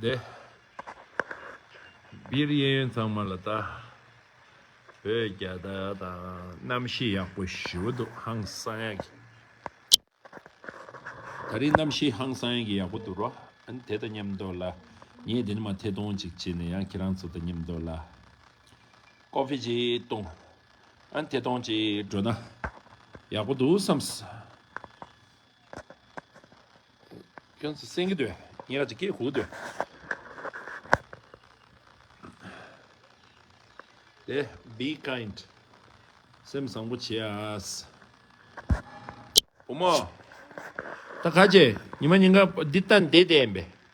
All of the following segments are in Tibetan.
བདེ། སྦིར་གཡས་གཡོན་གཙང་མ་ལ་བལྟ། བོད་རྒྱ་དག་དང་རྣམ་བཤད་ཡག་པོ་ཞུ་འདུག་ཧང་སང་ཡག་གི། ད་རིང་རྣམ་བཤད་ཧང་སང་ཡག་གི་ཡག་པོ་འདུག་རོ། ཨན་དེ་དང་མཉམ་འདོག་ལ། ངས་དེ་ནི་མ་ཐེ་གཏོང་ཅིག་བྱེད་ནས་ཡང་ཁྱེད་རང་ཚོ་དང་མཉམ་འདོག་ལ། ཀོ་ཕི་ཅིག་གཏོང། ཨན་ཐེ་གཏོང་ཅིག་འགྲོ་ན། ཡག་པོ་འདུག་བསམས། ཁྱོད་ཚོ་སེང་གེ་འདོད་ངས་ཀྱི་སྐད་ཁུག་འདོད། དེ be kind སེམས་བཟང་པོ་བྱས། བུ་མོ། ད་ག་ཅེས་ཉི་མ་ཉིན་འགའ་འདི་ལྟ་འདི་བལྟས་ཡིན་པས་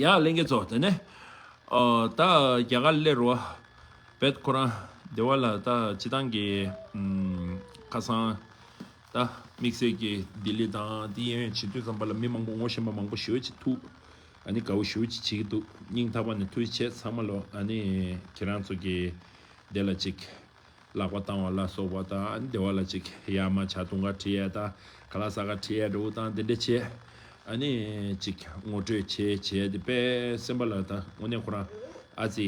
ཡང་གླིང་གེ་ཚོགས་དེ་ནས། ད་རྒྱ་གར་སླེ་རོ། བད་ཁོ་རང་སྡེ་བ་ལ་ད་སྤྱི་དང་གི། ཁ་སང། ད་དམིགས་བསལ་གི་ལྡི་ལི་དང་དེ་ཡན་ཡོན་བྱེད་དུས་ཙམ་པ་ལ་མི་མང་པོ་ངོ་ཤེས་པ་མང་པོ་ཞོལ་གྱི་ཐུགས། ཨ་ནི་དགའ་བོ་ཞོལ་གྱི་བྱེད་གི་འདུག་སྙིང་ཐག་པ་ནས་ཐུགས་རྗེ་ཆེ་ཚང་མ་ལོ་ཨ་ནི་ཁྱེད་རང་ཚོ་གི་སྡེ་ལ་ཅིག། ལག་པ་བཏང་བ་ལ་སོགས་པ་དང་བདེ་བ་ལ་ཅིག་ཡར་མ་བྱ་དུང་ཀ་དྲི་ཡལ་དང་ག་ལ་ས་ག་དྲི་ཡལ་འདྲ་བོ་དང་དེ་འདྲ་བྱས་ནས་ཅིག་ངོ་སྤྲོད་བྱས་བྱས་ཏེ་དཔལ་སེམས་དཔའ་ལ་ད་དངོས་གནས་ཁོ་རང་ཨ་ཙི།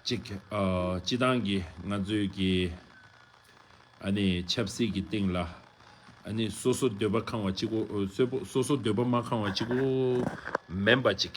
ཅིག། སྤྱི་བཏང་གི་ང་ཚོས་ཀྱི། ཆབ་སྲིད་ཀྱི་སྟེང་ལ། སོ་སོ་འདོད་པ་ཁང་བ་གཅིག་གོ་སོ་སོ་འདོད་པ་མ་ཁང་བ་གཅིག་གོ། མེན་པ་ཅིག་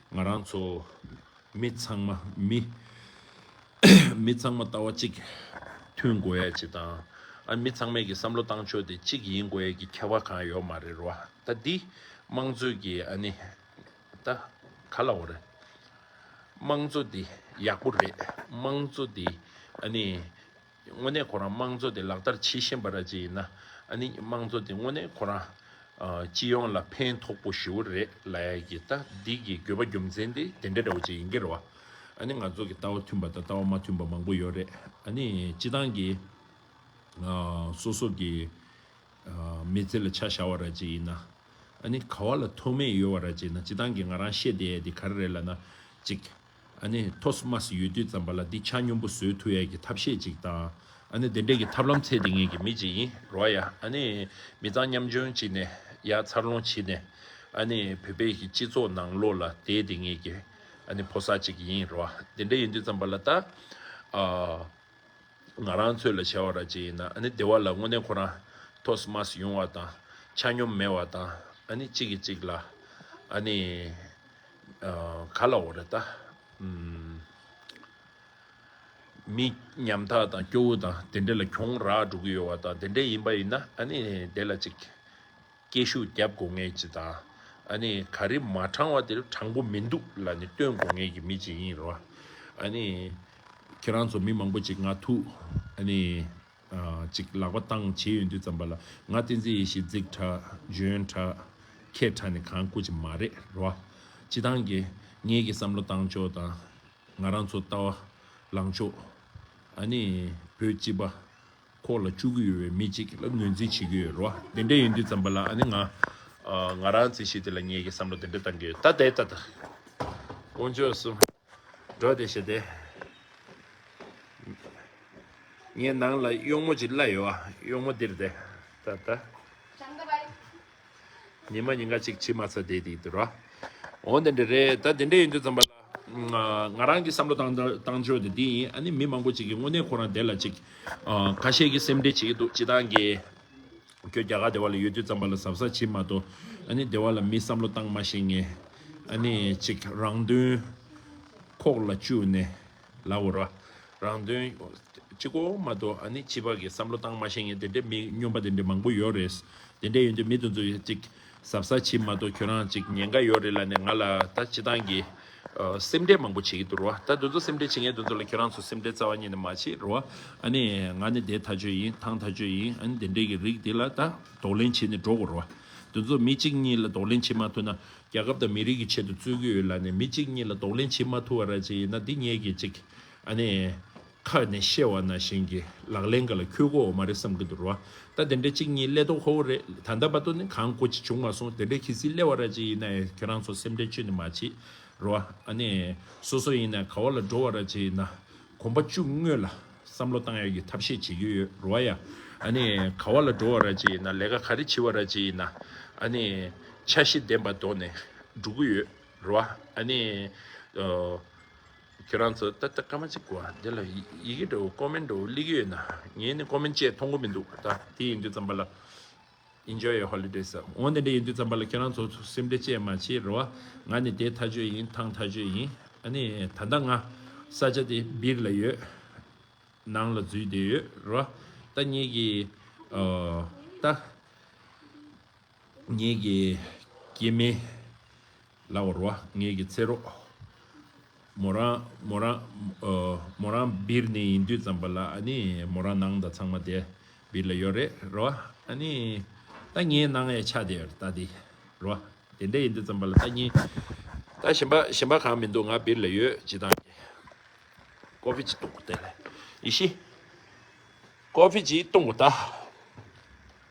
ང་རང་ཚོ། མི་ཚང་མ། མི། མི་ཚང་མ་ལྟ་བ་གཅིག། མཐུན་དགོས་ཡ་གཅིག་དང། ཨ་མི་ཚང་མས་ཀྱི་བསམ་བློ་བཏང་ཆོག་དེ་གཅིག་ཡིན་དགོས་ཡ་གྱི་ཁྱད་བ་གང་ཡོག་མ་རེད་རོ། ད་འདི། དམངས་གཙོ་གྱི་ཨ་ནི། ད། ག་ལ་འོ་རེད། དམངས་གཙོ་དེ་ཡག་པོ་རེད་དམངས་གཙོ་དེ་ཨ་ནི། དངོས་གནས་ཁོ་རང་དམངས་གཙོ་དེ་ལག་བསྟར་བྱེད་བཞིན་པ་ར་ཅི་ཡིན་ན་ཨ་ནི་དམངས་གཙོ་དེ་དངོས་གནས་ཁོ་རང་སྤྱི་ཡོངས་ལ་ཕན་ཐོགས་པོ་ཞུ་བོ་རེད་ལ་ཡ་གི་ལྟ་འདི་གི་དགོས་པ་རྒྱུ་མཚན་དེ་དེ་འདྲ་འདྲ་བོ་ཅིག་ཡིན་གི་རེད་བ་ཨ་ནི་ང་ཚོ་གི་ལྟ་བ་མཐུན་པ་དང་ལྟ་བ་མ་མཐུན་པ་མང་པོ་ཡོད་རེད་ཨ་ནི་སྤྱི་བཏང་གི་སོ་སོ་གི་མི་ཚེ་ལ་ཆ་བཞག་བ་ར་ཅི་ཡིན་ན་ཨ་ནི་ག་བ་ལ་ཐོགས་མེད་ཡོད་བ་ར་ཅི་ཡིན་ན་སྤྱི་བཏང་གི་ང་རང་ཤེས་དེ་ཡ་དེ་ག་རེ་རེད་ལ་ན་ཅིག། ཨ་ནི་ཐོ་སི་མ་སི་ཡོད་དུས་ཙམ་པ་ལ་འདི་ཆ་སྙོམས་པོ་བཟོས་ཐུ་ཡས་ཀྱི་ཐབས་ཤེས་ཅིག་དང་ཨ་ནི་དེ་འདྲས་ཀྱི་ཐབས་ལམ་ཚད་དེ་ངེད་ཀྱི་མི་ཅིག་ཡིན་རོ་ཡ་ཨ་ནི་མི་ཚང་མཉམ་བྱོན་བྱིས་ནས་ཡ་འཚར་ལོང་བྱིས་ནས་ཨ་ནི་བོད་པའི་ཀྱི་སྤྱི་ཚོགས་ནང་ལོགས་ལ་བསྡད་དེ་ངེད་ཀྱི་ཨ་ནི་ཕོ་སར་ཅིག་ཡིན་རོ་དེ་འདྲས་ཡིན་དུས་ཙམ་པ་ལ་ད་ཨ་ང་རང་ཚོས་ལ་བྱ་བ་ར་ཅིག་ཡིན་ན་ཨ་ནི་དེ་བ་ལ་དངོས་གནས་ཁོ་རང་ཐོ་སི་མ་སི་ཡོང་བ་དང་ཆ་སྙོམས་མེད་བ་དང་ཨ་ནི་གཅིག་གིས་གཅིག་ལ་ཨ་ནི། ག་ལ་འོ་རེད་ད། མི་ཉམ་ཐག་དང་སྐྱོ་བོ་དང་དེ་འདྲ་ལ་གྱོང་རག་འགྲོ་གི་ཡོད་བ་དང་དེ་འདྲ་ཡིན་པ་ཡིན་ན་ཨ་ནི་དེ་ལ་ཅིག་སྐད་ཤུགས་རྒྱབ་དགོ་ངེས་ཅི་དང་ཨ་ནི་ག་རེ་མ་དྲང་བ་དེ་རུ་དྲང་པོ་མི་འདུག་ལ་ནི་བསྟོན་དགོ་ངེས་ཀྱི་མི་ཅིག་ཡིན་རོ། ཨ་ནི་ཁྱེད་རང་ཚོ་མི་མང་པོ་ཅིག་ང་ཐུག་ཨ་ནི་ཅིག་ལག་པ་བཏང་བྱེད་ཡོད་འདུག་བརྩམས་པ་ལ་ང་བསྟན་འཛིན་ཡེ་ཤེས་རྫིག་ཁྲ་གཞོན་ཁྲ་ཁད་ཁྲ་ནི་གང་བཀུར་གྱི་མ་རེད་ར་བ། སྤྱི་བཏང་གི་ངེད་ཀྱི་བསམ་བློ་བཏང་ཕྱོགས་དང་ང་རང་ཚོ་ལྟ་བ་ལངས་ཕྱོགས་ཨ་ནི་བོད་སྤྱི་པ་ཁོག་ལ་བཅུག་གི་ཡོད་པའི་མི་ཅིག་ལ་ངོས་འཛིན་བྱེད་ཀྱི་ཡོད་ར་བ། དེ་འདྲ་ཡོད་འདུག་བརྩམས་པ་ལ་ཨ་ནི་ང་ང་རང་བརྩི་ཤེས་དེ་ལ་ངེད་ཀྱི་བསམ་བློ་དེ་འདྲ་བཏང་གི་ཡོད་ད་ལྟའི་ད་ལྟ་དཀོན་མཆོག་གསུམ། འགྲོ་དེ་བྱེད་དེ། ངའི་ནང་ལ་གཡོག་མོ་ཅིག་གླ་ཡོད་ཨ། གཡོག་མོ་འདིར་དེ། ད་ད། ཉི་མ་ཉིན་འགའ་ཅིག་ཕྱི་མ་ཚ་དེའི་དེའི་དུ་ར། འོ་དེ་འདྲ་རེད་ད་དེ་འདྲ་ཡིན་དུས་ཙམ་པ་ལ། ང་རང་གི་བསམ་བློ་བཏང་བཏང་ཆོས་དེ་འདི་ཡིན་ཨ་ནི་མི་མང་པོ་ཅིག་གིས་དངོས་གནས་ཁོ་རང་དེ་ལ་ཅིག། ཁ་ཤས་ཀྱིས་སེམས་ཁྲལ་བྱེད་ཀྱི་འདུག་བྱེད་སྟངས་ཀྱི། ཁྱོད་རྒྱ་གར་སྡེ་བ་ལ་ཡོད་དུས་རྩམ་པ་ལ་གཟབ་གཟབ་བྱེད་མ་གཏོགས་ཨ་ནི་སྡེ་བ་ལ་མི་བསམ་བློ་བཏང་མ་ཤེས་ངེས། ཨ་ནི་ཅིག་རང་དོན་ཁོག་ལ་བཅུག་ནས་ལབ་འོ་ར། རང་དོན་ཅིག་གོ་མ་གཏོགས་ཨ་ནི་སྤྱི་བར་གྱི་བསམ་བློ་བཏང་མ་ཤེས་ངེས་དེ་འདྲའི་མི་སྨྱོན་པ་དེ་འདྲའི་མང་པོ་ཡོད་རེད། དེ་འདྲས་ཡོད་དུས་མི་དེ་ཚོ་ཅིག་ཟབ་ས་བྱིས་མ་ཏོ་ཁྱོད་རང་ཅིག་ཉེན་ཁ་ཡོད་རེད་ལ་ནས་ང་ལ་ད་སྤྱི་སྟངས་ཀྱི་སེམས་ཁྲལ་མང་པོ་བྱེད་ཀྱི་འདུག་རོ་ད་དོན་ཚོ་སེམས་ཁྲལ་བྱེད་མཁན་དོན་ཚོ་ལ་ཁྱོད་རང་ཚོ་སེམས་ཁྲལ་རྩ་བ་ཉིད་ནས་མ་བྱེད་རོ་ཨ་ནི་ང་ནི་དེ་ད་ཆོས་ཡིན་ཐང་ད་ཆོས་ཡིན་ཨ་ནི་དེ་འདྲས་ཀྱི་རིགས་དེ་ལ་ད་དོགས་ལན་བྱེད་ནས་འགྲོ་དགོས་རོ་དོན་ཚོ་མི་གཅིག་གཉིས་ལ་དོགས་ལན་བྱེད་མ་ཐུབ་ན་རྒྱལ་ཁབ་དང་མི་རིགས་ཀྱི་ཆེད་དུ་རྩོད་ཀྱི་ཡོད་ལ་ནས་མི་གཅིག་གཉིས་ལ་དོགས་ལན་བྱེད་མ་ཐུབ་བ་ར་ཅིག་ཡིན་ན་འདི་ཉེས་ཀྱི་ཅིག་ཨ་ནི། ཁ་ནས་བཤད་བ་ན་གཞན་གྱི་ལག་ལེན་འགའ་ལ་ཁྱོད་གོ་བ་མ་རེད་བསམ་གྱི་འདུག་རོ། ད་དེ་འདྲ་གཅིག་གཉིས་གླད་དོ་ཁོ་བོ་རེད་ད་འདའ་བ་དོ་ནི་གང་གོ་ཅི་བྱུང་མ་སོང་དེ་འདྲ་ཁྱི་སིའི་གླད་བ་ར་གཅིག་ཡིན་ན་ཁྱོད་རང་ཚོ་སེམས་ཁྲལ་ཆོད་ནི་མ་བྱེད་རོ། ཨ་ནི། སོ་སོ་ཡིན་ན་ག་བ་ལ་འགྲོ་བ་ར་གཅིག་ཡིན་ན་གོམ་པ་བཅུ་དངོས་ལ་བསམ་བློ་བཏང་ཡ་གྱི་ཐབས་ཤེས་བྱེད་ཀྱི་ཡོད་རོ་ཨ་ཡ། ཨ་ནི། ག་བ་ལ་འགྲོ་བ་ར་གཅིག་ཡིན་ན་ལས་ཀ་ག་རེ་བྱེད་བ་ར་གཅིག་ཡིན་ན་ཨ་ནི། འཆར་གཞི་ལྡན་པ་འདོགས་ནས་འགྲོ་གི་ཡོད་རོ་ཨ་ནི། ཁྱེད་རང་ཚོ་ཏག་ཏག་སྐར་མ་གཅིག་གོ་ཨ་དེ་ལ་ཡི་གེ་འདྲ་བོ་ཀོ་མེན་འདྲ་བོ་གླིག་ཡོད་ན་ངས་ནི་ཀོ་མེན་བཅས་མཐོང་གོ་མི་འདུག་ད་དེ་ཡིན་དུས་ཙམ་པ་ལ Enjoy your holidays འོན་ཏེ་འདྲ་ཡིན་དུས་ཙམ་པ་ལ་ཁྱེད་རང་ཚོ་ཚོ་སེམས་འདྲེ་བཅས་མ་བྱེད་རོ་ཨ་ང་ནི་དེ་མཐའ་གཅོད་ཡིན་ཐང་མཐའ་གཅོད་ཡིན་ཨ་ནི་ད་ལྟ་ང་ས་ཆ་དེ་སྦིར་ལ་ཡོད་ནང་ལ་འཛུལ་བསྡད་ཡོད་རོ་ཨ་ད་ངེད་ཀྱི་ཨོ་ད་ངེད་ཀྱི་སྐྱེས་དམན་ལ་བར་བ་ངེད་ཀྱི་ཚེ་རོགས། མོ་རང་མོ་རང་མོ་རང་སྦིར་ནས་ཡིན་དུས་ཙམ་པ་ལ་ཨ་ནི་མོ་རང་ནང་ད་ཚང་མ་དེ་སྦིར་ལ་ཡོད་རེད་ར་བ་ཨ་ནི་ད་ངེད་ནང་ཡ་ཆ་དེ་ད་དེ་ར་བ་དེ་འདྲ་ཡིན་དུས་ཙམ་པ་ལ་ད་གཉིས་ད་གཞན་པ་གཞན་པ་གང་མི་འདུག་ང་སྦིར་ལ་ཡོད་ཇི་ལྟང་གི་ཀོ་ཕི་ཇི་སྟོང་གོ་ལྟ་ལ་ཡེ་ཤི་ཀོ་ཕི་ཇི་སྟོང་གོ་ལྟ།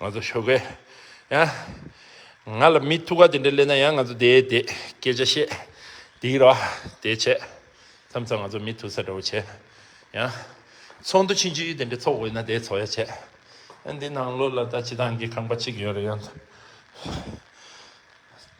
ང་ཚོ་ཤོ་གས་ཡང་ང་ལ་མི་ཐུག་ག་དེ་འདྲ་གླེང་ན་ཡང་ང་ཚོ་དེ་དེ་སྐད་ཆ་བཤད་དེ་རོ་དེ་བྱས་མཚམས་མཚམས་ང་ཚོ་མི་ཐུག་ས་འདྲ་བོ་བྱས་ཡང་ཚོགས་འདུ་ཕྱིན་ཅི་དེ་འདྲ་ཚོགས་འོས་ན་དེ་ཚོགས་ཡ་བྱས་ཡང་འདི་ནང་ལོགས་ལ་ད་ཅི་ཐང་གི་ཁང་པ་གཅིག་ཡོད་རེད་ཡང།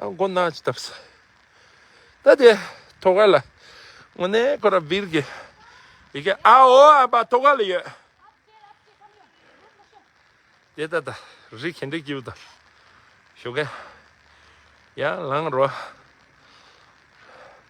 མགོ་ན་ཅི་བཏབ་ས་ད་དེ་ཐོ་ག་ལ་ངོ་ནས་ཁོ་ར་བིར་གི་ཡི་གེ་ཨ་ཨོ་ཨ་པ་ཐོ་ག་ལ་ཡོད་དེ་ད་ད་རི་གན་དྲི་གིའུ་དང་ཞོ་གན་ཡང་ལང་རོ།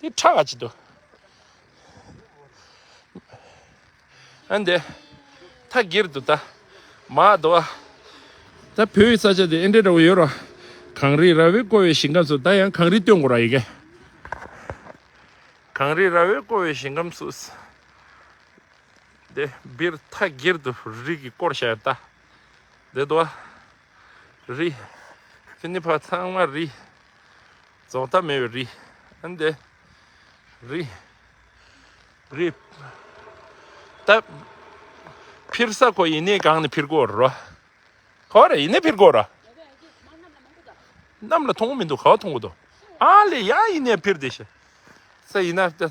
དེ་ཁྲག་གཅིག་ཏུ་ཨན་དེ་ཐ་གིར་དུ་ད་མ་དོ་བ་ད་བོད་ཡི་ས་ཆ་དེ་ཨན་དྲེ་འདྲ་བོ་ཡོད་ར་གངས་རི་ར་བའི་བསྐོར་བའི་ཞིང་ཁམས་སུ་ད་ཡང་གངས་རི་སྟོད་འགོ་ར་ཡི་གེ་གངས་རི་ར་བའི་བསྐོར་བའི་ཞིང་ཁམས་སུ་དེ་བིར་ཐ་གིར་དུ་རི་གི་བསྐོར་ཤ་ཡར་ད་དེ་དོ་བ་རི་དེ་ནི་བ་ཚང་མ་རི། རྫོགས་མཐའ་མེད་པའི་རི། ཨན་དེ། རི། རི། ད། འཕིར་ས་གོ་ཡིན་ནི་གང་ནས་འཕིར་གོ་རོ། གོ་རེ་ཡིན་ནི་འཕིར་གོ་རོ། གནམ་ལ་མཐོང་གོ་མི་འདུག་ག་བ་མཐོང་གོ་འདུག། ཨ་ལེ་ཡ་ཡིན་ནི་འཕིར་དེ་ཤི། ས་ཡིན་ན།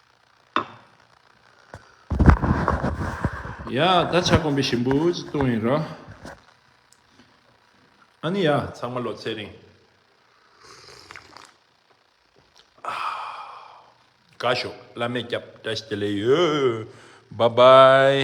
ཡ། ད་ཆ་དགོན་པའི་ཞིམ་པོ་ཅིག་བཏུང་ཡིན་རོ། ཨ་ནི་ཡ། ཚང་མ་ལོ་ཚད་རིང། དགའ་ཞོག་བླ་མས་སྐྱབས་བཀྲ་ཤིས་བདེ་ལེགས་ཡོད། བྷ་བྷའི།